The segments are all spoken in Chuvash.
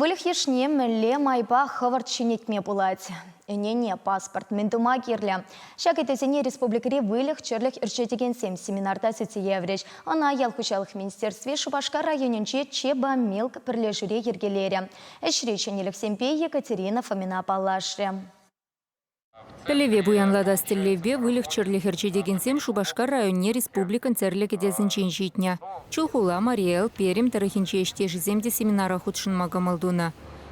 Выльӑх йышне мӗнле майпа хӑвӑрт ҫӗнетме пулать? Ӗнене, паспорт, мӗн тума кирлӗ? Ҫак ыйтусене республикӑри выльӑх-чӗрлӗх ӳрҫетекенсем семинарта сӳтсе яврӗҫ. Ӑна ял хуҫалӑх министерстви Шупашкар районӗнчи Чебомилк пӗрлешӳре йӗркелерӗ. Ӗҫри ҫӗнӗлӗхсемпе Екатерина Фомина паллашрӗ. Пӗлӗве пуянлатас тӗллевпе выльӑх-чӗрлӗх ӗрчетекенсем Шупашкар районне республикӑн тӗрлӗ кӗтесӗнчен ҫитнӗ. Чулхула, Мари Эл, Пермь тӑрӑхӗнчи ӗҫтешӗсем те семинара хутшӑнма кӑмӑл тунӑ.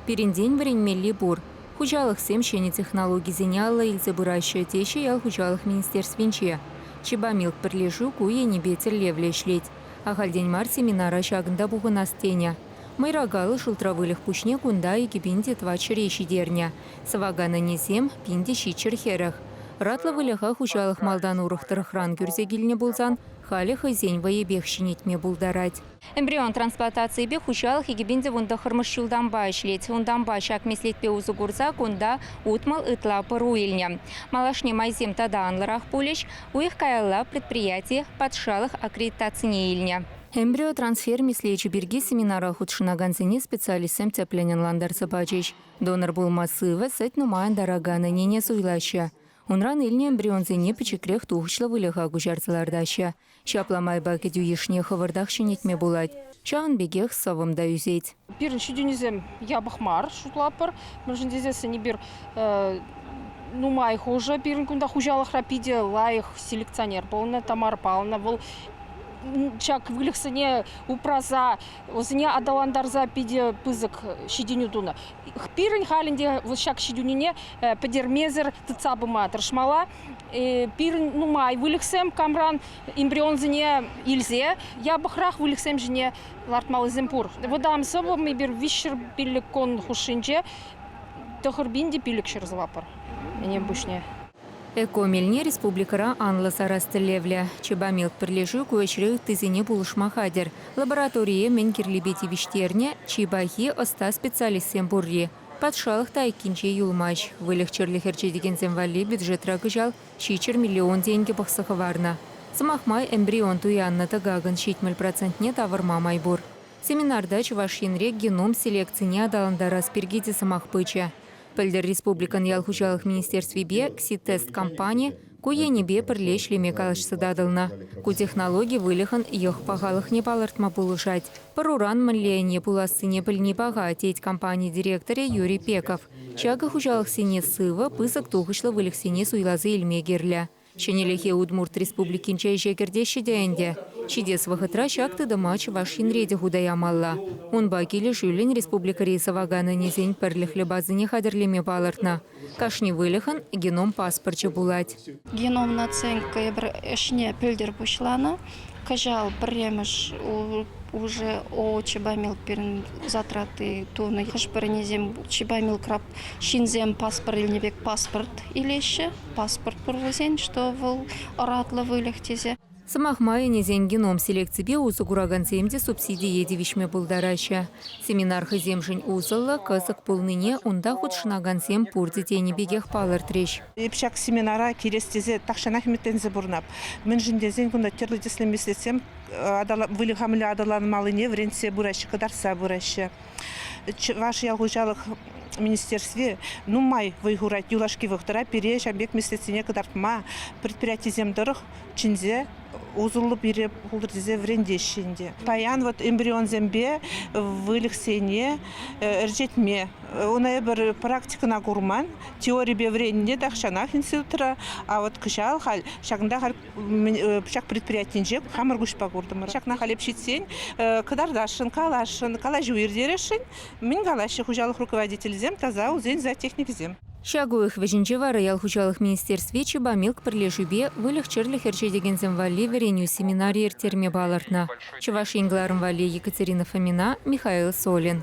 Пирӗнтен вӗренмелли пур, хуҫалӑхсем ҫӗнӗ технологисене алла илсе пыраҫҫӗ, теҫҫӗ ял хуҫалӑх министерствинче. Чебамилк пӗрлешӳ ку енӗпе тӗллевлӗ ӗҫлет. Ахальтен мар семинара ҫакӑнта пухӑнас тенӗ. Мӑйракалӑ шултра выльӑх пуҫне кунта икӗ пин те тӑват ҫӗре ҫитернӗ. Сӑвакан ӗнесем пин те ҫиччӗр хӗрӗх. Ӑратлӑ выльӑха хуҫалӑх малтан урӑх тӑрӑхран кӳрсе килнӗ пулсан, халӗ хӑйсен вӑйӗпех ҫӗнетме пултарать. Эмбрион трансплантацийӗпе хуҫалӑх икӗ пин тӑвӑн тӑххӑрмӗш ҫултанпа ӗҫлет. Унтанпа ҫак меслетпе усӑ курса кунта утмӑл ытла пӑру илнӗ. Малашне майсем тата анлӑрах пулӗҫ. Уйӑх каялла предприяти патшалӑх аккредитацине илнӗ. Эмбриотрансфер меслечӗ пирки семинара хутшӑнакансене специалистсем тӗплӗн ӑнлантарса пачӗҫ. Донор пулма сывӑ, сӗт нумайӑн таракан ӗнене суйлаҫҫӗ. Унран илнӗ эмбрионсене пӗчӗкрех тухӑҫлӑ выльӑха куҫарса лартаҫҫӗ. Ҫапла майпа кӗтӳ йышне хӑвӑртах ҫӗнетме пулать. Ҫавӑн пекех сӑвӑм та ӳсет. Пирӗн ҫитӗнӳсем япӑх мар шутлатпӑр, мӗншӗн тесессӗн эпир нумай хушӑ пирӗн кунта хуҫалӑхра питӗ лайӑх селекционер пулнӑ, Тамар пална. Вӑл ҫак выльӑхсене упраса Вӗсене аталантарса питӗ пысӑк ҫитӗнӳ тунӑ. Пирӗн халӗн те ҫак ҫитӗнӳне пӗтермесӗр тытса пыма тӑрӑшмалла. Пирӗн нумай выльӑхсем камран эмбрионсене илсе япӑхрах выльӑхсем ҫине лартмаллисем пур. Вӑтам сӑвӑм эпир виҫҫӗр пиллӗк кон хушшинче тӑхӑр пин те пилӗк ҫӗр сӑваппӑр ӗнен пуҫне. Эко-мелне республикӑра анлӑ сарас тӗллевлӗ. Чебамилк пӗрлешӳ ку ӗҫре ыттисене пулӑшма хатӗр. Лабораторие мӗн кирлипе тивӗҫтернӗ чи пахи ӑста специалистсем пурри. Патшалӑх та айккинче юлмасть. Выльӑх-чӗрлӗх ӗрчетекенсем валли бюджетра кӑҫал ҫиччӗр миллион тенкӗ пӑхса хӑварнӑ. Сӑмах май, эмбрион туяннӑ тӑкакӑн ҫитмӗл процентне тавӑрма май пур. Семинарта Чӑваш Енре геном селекцине аталантарас пирки те сӑмах пычӗ. Пӗлтӗр республикӑн ял хуҫалӑх министерствипе КСИТЕСТ компани ку енӗпе пӗрле ӗҫлеме калаҫса татӑлнӑ. Ку технологи выльӑхӑн йӑх пахалӑхне палӑртма пулӑшать. Пӑруран мӗнле ӗне пулассине пӗлни паха, тет компани директорӗ Юрий Пеков. Ҫакӑ хуҫалӑхсене сывӑ, пысӑк тухӑҫлӑ выльӑхсене суйласа илме кирлӗ. Ҫӗнӗлӗхе Удмурт Республикинче ӗҫе кӗртеҫҫӗ те ӗнтӗ. Ҫитес вӑхӑтра ҫак тытӑма Чӑваш Енре те хута ямалла. Унпа килӗшӳллӗн республикӑри сӑвакан ӗнесен пӗрлӗхлӗ базине хатӗрлеме палӑртнӑ. Кашни выльӑхӑн геном паспорчӗ пулать. Геном наценка ӗҫне пӗлтӗр пуҫланӑ. кӑҫал пӗрремӗш уже ООО чебамил пирӗн затраты тунӑ хӑш-пӗринисем чебамил краб ҫынсем паспорт илнӗ пек паспорт илеҫҫӗ паспорт пур вӗсен что вӑл ӑратлӑ выльӑх тесе Сӑмах май, ӗнесен геном селекципе усӑ куракансем те субсидие тивӗҫме пултараҫҫӗ. Семинар хӑйсемшӗн усӑллӑ, кӑсӑк пулнине унта хутшӑнакансем пурте тенӗ пекех палӑртрӗҫ. Эп ҫак семинара килес тесе тахҫанах ӗмӗтленсе пурӑнап. Мӗншӗн тесен кунта тӗрлӗ тӗслӗ меслетсем выльӑха мӗнле аталанмаллине вӗрентсе пыраҫҫӗ, кӑтартса пыраҫҫӗ. Чӑваш ял хуҫалӑх министерстви нумай вӑй хурать юлашки вӑхӑтра пире ҫан пек меслетсене кӑтартма предприятисем тӑрӑх чӗнсе усӑллӑ пире пултӑр тесе вӗрентеҫҫӗ ӗнтӗ. Паян вот эмбрионсемпе выльӑхсене ӗрчетме, ун эпир практикӑна курман, теорипе вӗреннӗ тахҫанах институтра, а вот кӑҫал халь ҫакӑнта халь пучах предприятинче хамӑр куҫпа куртӑмӑр. Ҫакна халь ҫитсен кӑтартасшӑн, каласшӑн, калаҫу иртересшӗн. Мӗн калаҫҫӗ хуҫалӑх руководителӗсем таса усен зоотехникӗсем? Ҫак уйӑх вӗҫӗнче вара ял хуҫалӑх министерстви Чебамилк пӗрлешӳпе выльӑх-чӗрлӗх ӗрчетекенсем валли вӗренӳ семинарӗ ирттерме палӑртнӑ. Чӑваш Ен кӑларӑм валли Екатерина Фомина, Михаил Солин.